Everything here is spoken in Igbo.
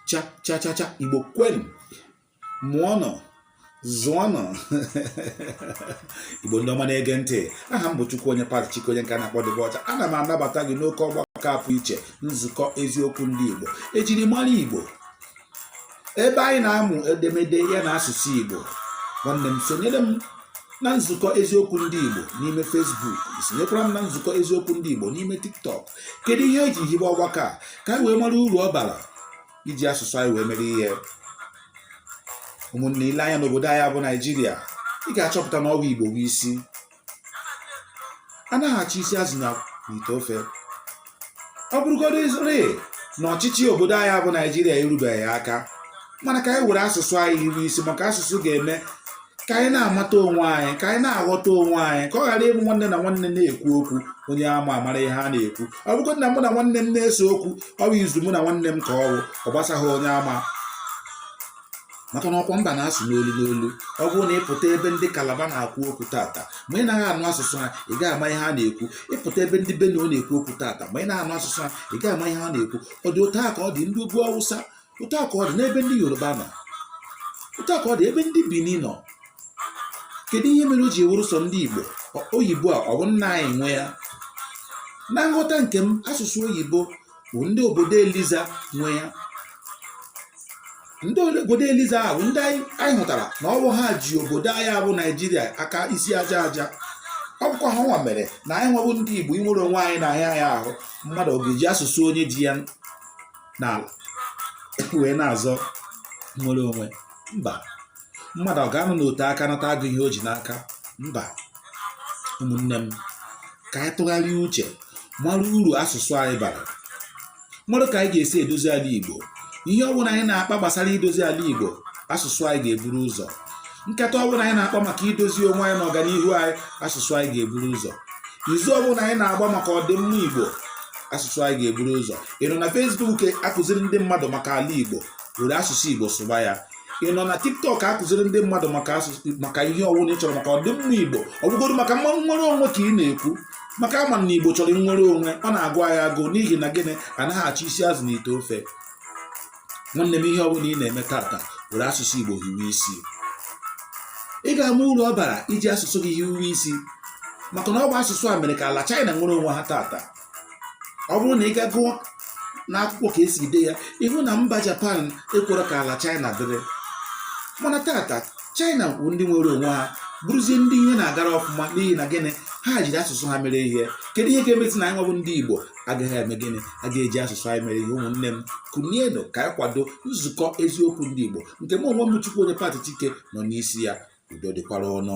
cha cha cha cha igbo kwenu mụọnụ zụọnụ igbo ndị ọma na-ege ntị aha m bụ chukwuonye patrick onye nke a na-akpọ dịbe ọcha ana m anabata gị n'oke ọgbakọ a pụ iche nzukọ eziokwu ndị igbo ejiri mara igbo ebe anyị na-amụ edemede ya na asụsụ Igbo nwanne m sonyere m na nzukọ eziokwu ndị Igbo n'ime Facebook sonyekwara m na nzukọ eziokwu ndị Igbo n'ime TikTok kedu ihe eji hibe ọgbakọ a ka anyị wee mara uru ọ bara iji asụsụ anyị wee mere ihe ụmụnne ile anya n'obodo anyị bụ Naijiria ị ga-achọpụta na ọ wụ Igbo bụ isi anaghị achọ isi azụ na ite ofe ọ bụrụgodị rịị na ọchịchị obodo anyị bụ naijiria erubeghị aka mana ka anyị were asụsụ anyị hiwe isi maka asụsụ ga-eme ka anyị na-amata onwe anyị ka anyị na-aghọta onwe anyị ka ọ ghara ịbụ nwanne na nwanne na-ekwu okwu onye ama amara ihe a na-ekwu ọ bụgodị na mụ na nwanne m na-ese okwu ọ bụ izu mụ na nwanne m ka ọ bụ ọ gbasaghị onye ama maka na ọkwa mba na-asụ n'olu n'olu ọ bụrụ na ịpụta ebe ndị kalaba na-ekwu okwu tata ma ị naghị anụ asụsụ ha ị gaghị ama ihe ha na-ekwu ịpụta ebe ndị benue na-ekwu okwu tata ma ị naghị anụ asụsụ ha ị gaghị ama ihe ha na-ekwu ọ dị otu a ka ọ dị ndị ugwu awụsa otu a ka ọ dị n'ebe ndị yoruba nọ otu a ka ọ dị ebe ndị bini nọ kedu ihe mere o ji wụrụ sọ ndị igbo oyibo a ọ bụ nna anyị nwe ya na nghọta nke m asụsụ oyibo bụ ndị obodo eliza nwe ya ndị obodo eliza ahụ ndị anyị hụtara na ọ bụ ha ji obodo anyị a bụ naijiria aka isi aja aja ọ bụkwa ha nwa mere na anyị nwa bụ ndị igbo inwere onwe anyị na-ahịa anyị ahụ mmadụ ọ ga-eji asụsụ onye ji ya n'ala wee na-azọ nnwere onwe mba mmadụ ọ ga-anọ n'ote aka nata agụ ihe o ji n'aka mba ụmụnne m ka anyị tụgharịa uche mara uru asụsụ anyị bara mara ka anyị ga-esi edozi ala Igbo ihe ọ bụla anyị na-akpa gbasara idozi ala Igbo asụsụ anyị ga-eburu ụzọ nkata ọ bụla anyị na-akpa maka idozi onwe anyị na ọganihu anyị asụsụ anyị ga-eburu ụzọ izu ọ bụla anyị na-agba maka ọdịmma Igbo asụsụ anyị ga-eburu ụzọ ị nọ na Facebook akụziri ndị mmadụ maka ala Igbo were asụsụ igbo sụba ya ị nọ na tiktok akụziri ndị mmadụ maka ihe ọwụla ị chọrọ maka ọdịmma igbo ọ bụgodị maka nnwere onwe ka ị na-ekwu maka a ma na igbo chọrọ nnwere onwe ọ na-agụ anyị agụ n'ihi na gịnị anaghị achọ isi azụ na ite ofe nwanne m ihe ọbụla ị na-eme tata were asụsụ igbo hiwe isi ị ga-ama uru ọ bara iji asụsụ gị hiwe isi maka na ọ bụ asụsụ a mere ka ala China nwere onwe ha tata ọ bụrụ na ị gaa gụọ n'akwụkwọ ka e si dee ya ị hụ na mba japan ekworo ka ala china dịrị mana tata china bụ ndị nwere onwe ha bụrụzie ndị ihe na-agara ọfụma n'ihi na gịnị ha jiri asụsụ ha mere ihe kedu ihe ga-emezi na anyịnwa bụ ndị igbo agaghị eme gịnị a ga-eji asụsụ anyị mere ihe ụmụnne m kunienụ ka anyị kwado nzukọ eziokwu ndị igbo nke m onwe m chukwuonye pati chike nọ n'isi ya udo dịkwara unu